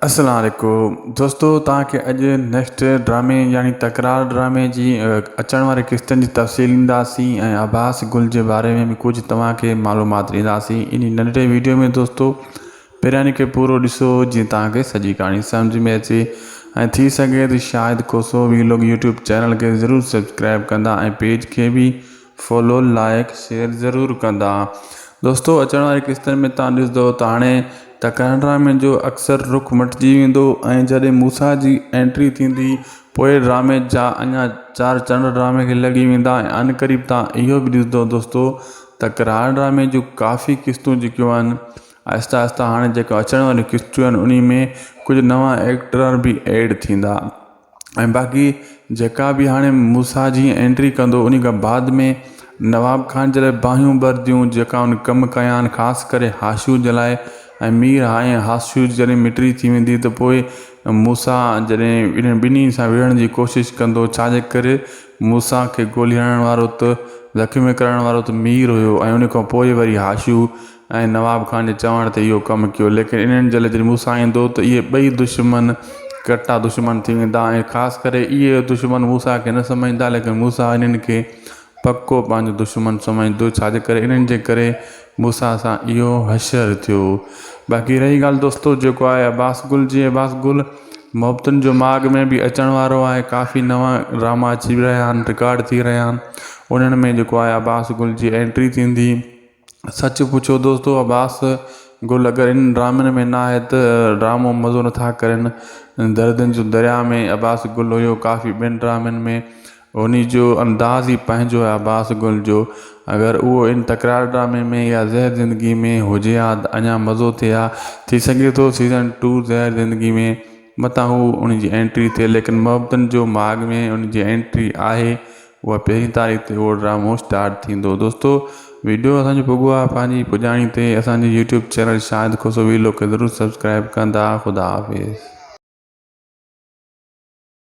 اسلام عليڪم دوستو توهان کي اڄ نيڪسٽ ڊرامي يعني تڪرار ڊرامي جي اچڻ واري قسطن جي تفصيل ڏينداسين ۽ عباس گل جي باري ۾ به ڪجهه توهان کي معلومات ڏينداسين ان ننڍڙي ويڊيو ۾ دوستو پهريان کي پورو ڏسو جيئن توهان کي سڄي ڪهاڻي سمجهه ۾ اچي ۽ ٿي سگهي ته Shahid Khoso vlog YouTube channel کي ضرور سبسڪرائب ڪندا ۽ پيج کي به فالو لائيڪ شيئر ضرور ڪندا دوستو اچڻ واري قسطن ۾ تان ڏسندو ته هاڻي ته ڪرڻ ڊرامي جو اڪثر رخ مٽجي ويندو ۽ جڏهن موسيٰ جي انٽري ٿيندي پوء ڊرامي جا اڃا چار چنڊ ڊرامي کي لڳي ويندا ۽ عن قريب تان اهو به ڏسندو دوستو ته ڪرڻ ڊرامي جون ڪافي قسطون جيڪيون آهن آهستي آهستي هاڻي جيڪو اچڻ واريون قسطون آهن انهي ۾ ڪجهه نوان ايڪٽر به ايڊ ٿيندا ۽ باقي جيڪا به هاڻي موسيٰ جي اينٽري ڪندو انهي کان بعد ۾ نواب خان جي لاء باهيون ٻرنديون جيڪا ان کان ڪم ڪيان خاص ڪري هاشيو جي لاء ۽ مير هائين هاشيو جڏهن مٽري ٿي ويندي ته پوء موسيٰ جڏهن انهن ٻنهي سان وڙهڻ جي ڪوشش ڪندو ڇا جي ڪري موسيٰ کي گولي هڻڻ وارو ته زخمي ڪرڻ وارو ته مير هيو ۽ ان کان پوء وري هاشيو ۽ نواب خان جي چوڻ تي اهو ڪم ڪيو ليڪن انهن جلد جڏهن موسيٰ ايندو ته اهي ٻئي دشمن ڪٽا دشمن ٿي ويندا ۽ خاص ڪري اهي دشمن موسيٰ کي نه سمجهندا ليڪن موسيٰ انهن کي پڪو پنهنجو دشمن سمجهندو ڇاجي ڪري انهن جي ڪري موسيٰ سان اهو حشر ٿيو باقي رهي ڳالهه دوستو جيڪو آهي عباس گل جي عباس گل محبتن جو ماڳ ۾ به اچڻ وارو آهي ڪافي نوان ڊراما اچي رهيا آهن رڪارڊ ٿي رهيا آهن انهن ۾ جيڪو آهي عباس گل جي اينٽري ٿيندي سچ پڇو دوستو عباس گل اگر انهن ڊرامن ۾ نه آهي ته ڊرامو مزو نٿا ڪرين دردن جو دريا ۾ عباس گل هيو ڪافي ٻين ڊرامن ۾ انهي جو انداز ئي پنهنجو آهي عباس گل جو اگر اهو ان تڪرار ڊرامي ۾ يا زهر زندگي ۾ هجي ها ته اڃا مزو ٿئي ها ٿي سگهي ٿو سيزن ٽو زهر زندگي ۾ متان هو انهي جي انٽري ٿئي ليڪن محبتن جو ماڳ ۾ انهي جي انٽري آهي اها پهرين تاريخ تي اهو ڊرامو اسٽارٽ ٿيندو دوستو ويڊيو اسان جو پڳو آهي پنهنجي پڄاڻي تي اسان جو YouTube channel Shahid Khoso vlog کي ضرور سبسڪرائب ڪندا خدا حافظ.